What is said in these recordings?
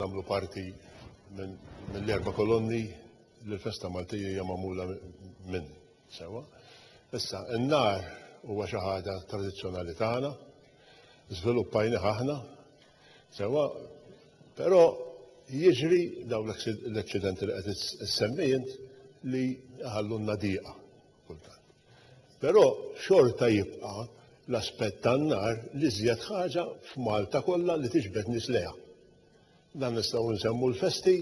tagħmlu parti mill-erba' kolonni li l-festa Maltija hija magħmula minn sewwa. Issa, in-nar huwa xi ħaġa tradizzjonali tagħna, żviluppajni aħna, sewwa, però jiġri dawn l-eksidenti li qed issemmi int li ħallunna dieqa. kultant. Però xorta jibqa' l-aspett tan-nar l-iżjed ħaġa f'Malta kollha li tiġbed nies lejha. Dan nistgħu nsemmu l-festi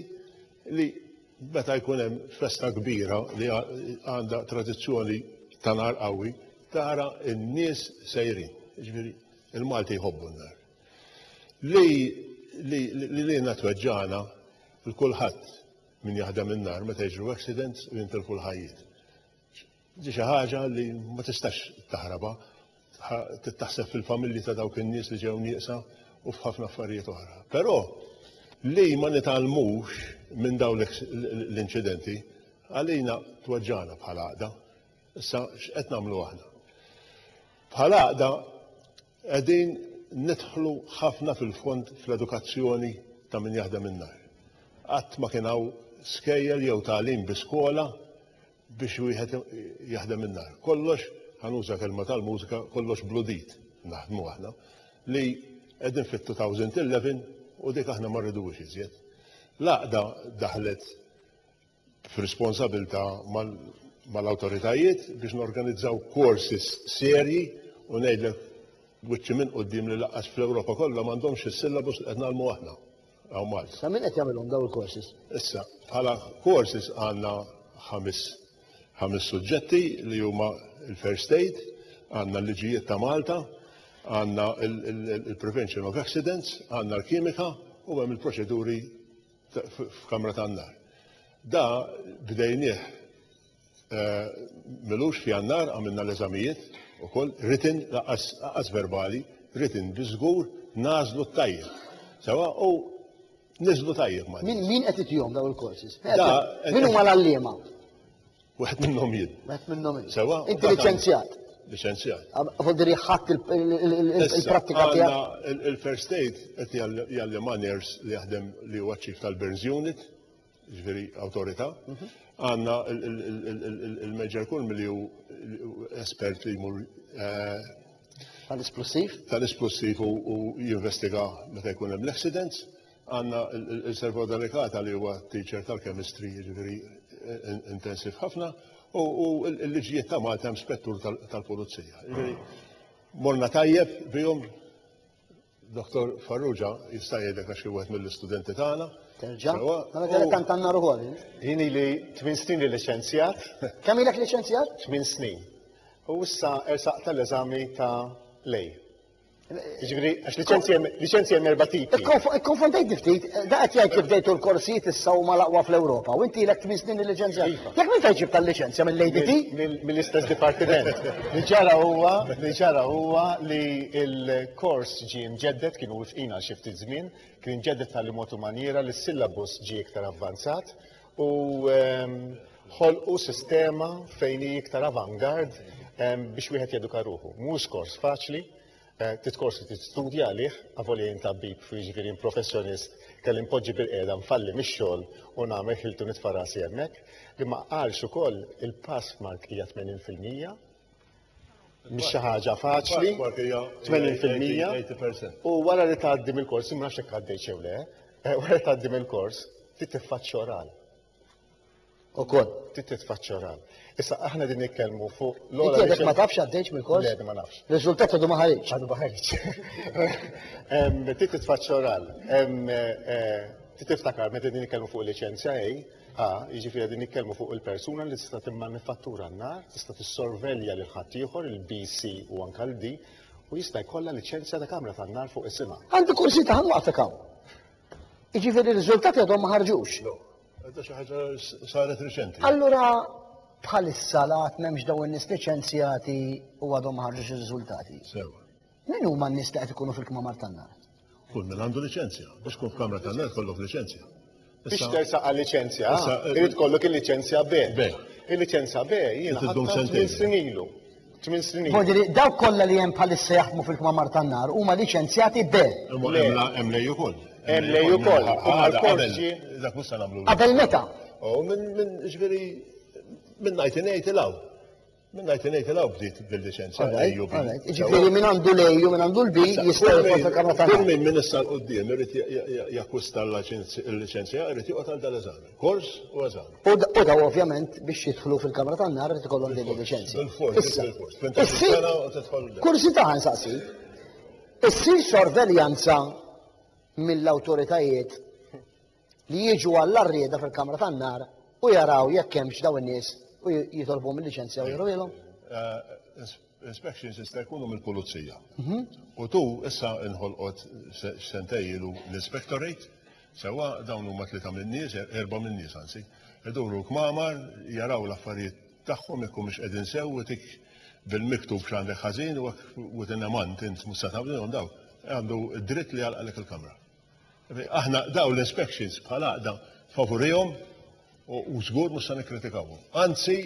li meta jkun hemm festa kbira li għandha tradizzjoni ta' nar qawwi, tara n-nies sejrin. Jiġifieri il-Malti jħobbu n-nar. Li li li lilna tweġġagħna l-kulħadd Min jaħdem in-nar meta jiġru accidents u jintilfu l-ħajjiet. Di xi ħaġa li ma tistax taħrabha. Trid taħseb fil-familji ta' dawk in-nies li ġew nieqsa u f'ħafna affarijiet oħra. Però li ma nitgħallmux minn dawn l-inċidenti għalina tweġġagħna bħala għaqda. Issa x'qed nagħmlu aħna? Bħala għaqda Qegħdin nidħlu ħafna fil-fond fl-edukazzjoni ta' min jaħdem in-nar. Qatt ma kien hawn skejjel jew tagħlim bi skola biex wieħed jaħdem in-nar. Kollox, ħanuża kelma tal-mużika, kollox bludit naħdmu aħna li qegħdin fit-2011 u dik aħna ma rriduhiex iżjed. L-għaqda daħlet f'responsabilità mal-awtoritajiet biex norganizzaw courses serji u ngħidlek wiċċi minn quddiem li laqqas fl-Ewropa kollha m'għandhomx is-syllabus li qed nagħlmu aħna hawn Malta. Ta' min qed jagħmilhom dawn il-courses? Issa, bħala courses għandna ħames ħames suġġetti li huma l-first aid, għandna l-liġijiet ta' Malta, għandna il-prevention of accidents, għandna l-kimika u hemm il-proċeduri f'kamra tan-nar. Da bdejnieh eh, milux f'jannar għamilna l-eżamijiet ukoll written laqas verbali, written bi żgur nażlu t-tajjeb. Sewa u niżlu tajjeb ma. Min qed itihom daw il-courses? Min huma l-għalliema? Wieħed minnhom jien. Wieħed minnhom jien. Sewa. Inti liċenzjat. Liċenzjat. Vogdiri ħadd il-prattika tiegħek. Il-first aid qed jgħallim nurse li jaħdem li huwa ċif tal-Burns Unit, ġifieri awtorità. Mhm. Għandna il-Major Kulm li hu espert li jmur eh, tal-esplosiv. Tal-esplosiv u jinvestiga meta jkun hemm l-accidents. Għandna l-Servo Delicata li huwa teacher tal-chemistry, jiġifieri intensiv ħafna, u l-liġijiet ta' Malta hemm spettur tal-pulizija. Jiġifieri morna tajjeb bihom Dr. Farrugia jista' jgħidlek għax kien wieħed mill-istudenti tagħna. Terġa'? Mela kellek tant għandna ruħol. Jien ili tmien snin li liċenzjat. Kemm ilek liċenzjat? Tmien snin. U issa ersaq tal-eżami ta' lej. Ġifieri għax liċenzji hemm erba' tipi. Ikkonfondejt ftit, da qed jgħid li bdejtu l-korsijiet issa huma l-aqwa fl-Ewropa u inti ilek tmien snin il-liċenzja. Iva. Jekk minn fejn ġibt tal-liċenzja mill-ADT? Mill-istess dipartiment. Li ġara huwa, li ġara huwa li l-kors ġie mġedded, kienu wifqin għal xi ftit żmien, kien ġedded tal mod u manjiera li s-syllabus ġie iktar avvanzat u ehm, ħolqu sistema fejn hi iktar avangard ehm, biex wieħed jeduka ruħu. Mhux kors faċli, Eh, titkorsi tistudja għalih, għavoli jintabib fi ġifirin professjonist kelli poġġi bil-qeda nfalli mix-xogħol u nagħmel ħiltu nitfarasi hemmhekk, li ma qalx ukoll il-pass mark hija 80% mhix xi ħaġa faċli, 80% u wara li tgħaddi mill-kors, ma nafx hekk għaddej xew le, eh, wara li tgħaddi mill-kors, trid tiffaċċja oral. Ukoll, trid tiffaċċja oral. Issa aħna din nitkellmu fuq l-ola. Inti ma tafx għaddejx mill-kors? Le, ma nafx. Riżultat għadu ma ħareġ. Għadu ma ħareġ. Trid titfaċċja oral. Eh, trid tiftakar meta din nitkellmu fuq liċenzja A, jiġifieri qegħdin nitkellmu fuq il-persuna li tista' timmanifattura n-nar, tista' tissorvelja lil ħaddieħor, il-BC u anke l-D, u jista' jkollha liċenzja ta' kamra tan-nar fuq isimha. Għandi kursi ta' ħanwaqfek hawn. Jiġifieri r-riżultati għadhom ma ħarġux. No. Għadha xi ħaġa saret riċenti. Allura bħalissa l-għad m'hemmx dawn in-nies liċenzjati u għadhom ma ħarġux ir-riżultati. Sew. Min huma n-nies li qed ikunu fil-kmamar tan-nar? Kull min għandu liċenzja. Biex tkun f'kamra tan-nar jkollok liċenzja. Biex tersaq għal liċenzja A, irid ikollok il-liċenzja B. B. Il-liċenzja B jiena ħadtha tmien snin ilu. Tmien snin ilu. Jiġifieri dawk kollha li hemm bħalissa jaħdmu fil-kmamar tan-nar huma liċenzjati B. Imma hemm lej ukoll. Hemm lej ukoll. Dak mhux se nagħmlu. Qabel meta? Minn ġifieri minn ngħid ingħid il-hawn. Minna jti nejt il-għaw bdiet bil-licenza l-AU B. Ġifiri minn għandu l-AU, minn għandu l-B, jista' jkun fil-kamra ta' Kull minn minn issa l-qoddim irrit jakusta l-licenza, irrit joqgħod għal dal-eżami. Kors u eżami. U daw ovvjament biex jidħlu fil-kamra ta' nar irrit ikollhom din il-licenza. Il-kors, il-kors. Minn Kursita għan saqsi. Issir sorveljanza mill-autoritajiet li jiġu għall-arrieda fil-kamra tan-nar u jaraw jekk hemmx daw in-nies u jitolbu mill-liċenzja u jruwilhom? Eh, inspections jista' jkunu mill-pulizija. Mhm. U tu issa inħolqot sentej ilu l-inspectorate, sewa dawn huma tlieta min-nies, er-, erba' min-nies anzi, iduru kmamar, jaraw l-affarijiet tagħhom jekk mhux qegħdin sew tik bil-miktub x'għandek ħażin u within a month int mhux se tagħmlilhom daw. Għandu dritt li għalqalek il-kamra. Aħna dawn l-inspections bħal għaqda favurihom u żgur mhux se nikkritikawhom. Anzi,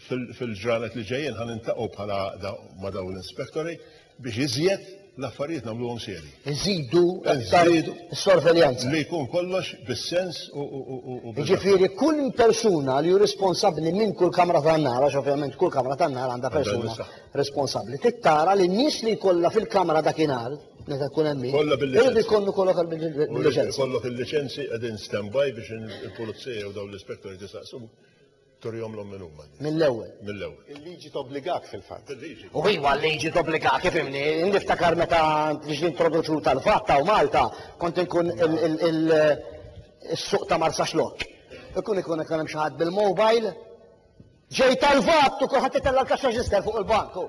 fil-ġranet li ġejjin ħan intaqgħu bħala għaqda ma' dawn l-inspektori biex iżjed l-affarijiet nagħmluhom serji. Iżidu s-sorveljanza. Li jkun kollox bis-sens u bil Ġifieri kull persuna li hu responsabbli minn kull kamra tan-nar, għax ovvjament kull kamra tan-nar għandha persuna responsabbli, tittara li n-nies li jkollha fil-kamra dakinhar Meta jkun hemm min. Kollha bil-liċenzi. Irid ikollu kollok għal min il-liċenzi. U irid ikollok il-liċenzi qegħdin standby biex il-pulizija jew dawn l-ispettoriet isaqsuk turihomlhom min huma. Mill-ewwel. Mill-ewwel. Il-liġi tobbligak fil-fatt. Il-liġi. U iva l-liġi tobbligak ifhimni. Niftakar meta ġiet introduċuta l-fatt hawn Malta kont inkun il-suq ta' Marsaxlokk. Ikun ikun hemm xi ħadd bil-mobile Ġej tal-vat u kulħadd itella' l-kaxxa ġiżder fuq il-bank hu.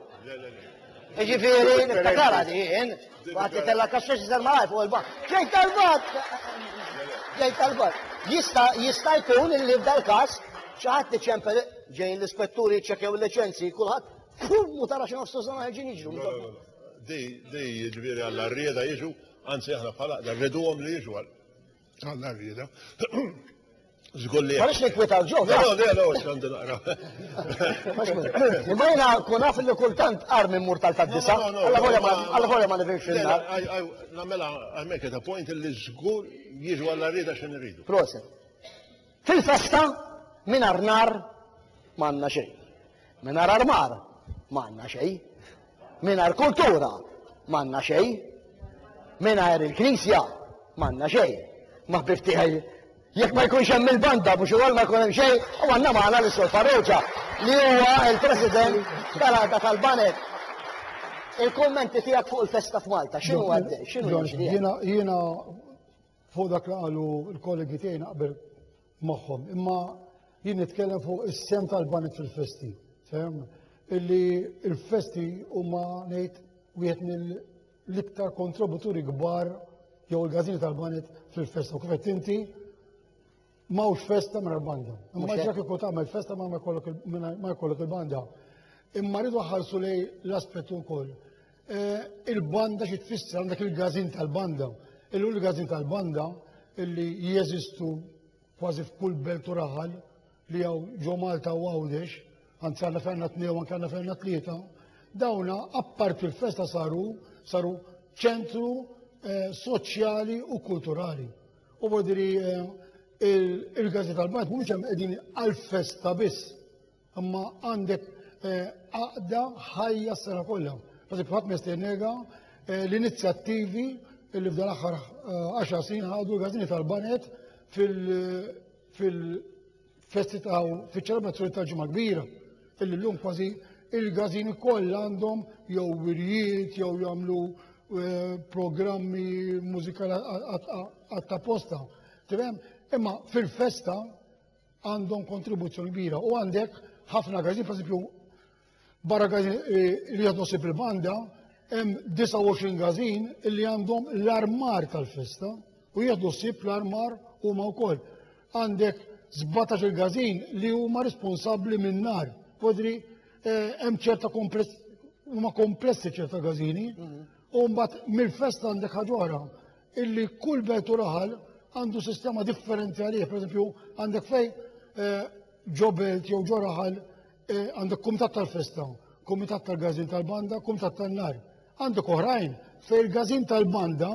Jiġifieri niftakarha din, kulħadd itella' l-kaxxa ġiżder malaj fuq il-bank. Ġej tal-vat! Ġej tal-vat. Jista' jista' jkun li f'dal-każ xi ħadd iċempel ġejjin l-ispetturi jċċekkjaw il-liċenzji, kulħadd pum u tara xi nofs tużżan ħerġin jiġru. Di jiġifieri għall-għarrieda jiġu, anzi aħna bħala qda rriduhom li jiġu għal. Għalla rrida. Zgur li. Għalix nikwita l-ġo. Le, le, le, għandu naqra. Imma jina kun għaf li kultant armi mur tal-taddisa. Għalla volja ma nivimx il-nar. Namela, għamek ta' point li zgur jiġu għalla rrida xin rridu. Proset. Fil-festa, mingħajr nar ma għandna xejn. Mingħajr armar ma għandna xejn. Mingħajr kultura ma għandna xejn. Mingħajr il-knisja ma għandna xejn. Ma ħbib tiegħi jekk ma jkunx hemm il-banda biex ukoll ma jkun hemm xejn, u għandna magħna l sur Farrugia li huwa l-President tal-Għada tal-Banet. Il-kummenti tiegħek fuq il-festa f'Malta, x'inhu għaddej? X'inhu jiena Fuq dak li qalu l-kollegi tiegħi naqbel magħhom, imma jien nitkellem fuq is-sem tal-banek fil-festi. Sem illi il-festi huma ngħid wieħed mill-iktar kontributuri kbar jew il-gażini tal-banet fil-festa. Kif qed inti Mawx festa minn banda. Imma ġa kieku tagħmel festa ma jkollok il-banda. Imma rridu ħarsu li l-aspett ukoll. Eh, il-banda xi tfisser għandek il-gazin tal-banda. Illum il-gazin tal-banda illi jeżistu kważi f'kull belt u raħal li għaw ġo Malta u għawdex, għanzi għanna fejna t-tnew, għanna għanna fejna t-tlieta, dawna apparti l-festa saru, saru ċentru eh, soċjali u kulturali. U bodi li eh, il-gazzetta tal-bajt mhumiex hemm qegħdin għal-festa biss, imma għandek eh, għaqda ħajja s-sena kollha. Għazik ħadd mesternega eh, l-inizjattivi li f'dan aħħar 10 snin ħadu l-gazzini tal-banet fil- festi ta' fiċ-ċelebrazzjoni ta' ġimgħa kbira, illi llum kważi il-gazini kollha għandhom jew wirjiet jew jagħmlu eh, programmi mużikali għatta posta. Tifhem? Imma fil-festa għandhom kontribuzzjoni kbira u għandek ħafna gazini, per Barra każin li jieħdu ħsieb il-banda, hemm 29 każin li għandhom l-armar tal-festa u jieħdu ħsieb l-armar huma wkoll. Għandek 17 il-każin li huma responsabbli min-nar. Podri eh, hemm ċerta kompless huma komplessi ċerta każini mhm. u mbagħad mill-festa għandek ħaġora illi kull belt u raħal għandu sistema differenti għalih, per għandek fej eh, ġobelt jew ġoraħal E, għandek kumitat tal-festa, kumitat tal-gazin tal-banda, kumitat tal-nar. Għandek oħrajn fej il-gazin tal-banda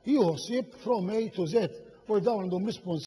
jħossib from A to Z u dawn għandhom responsabilità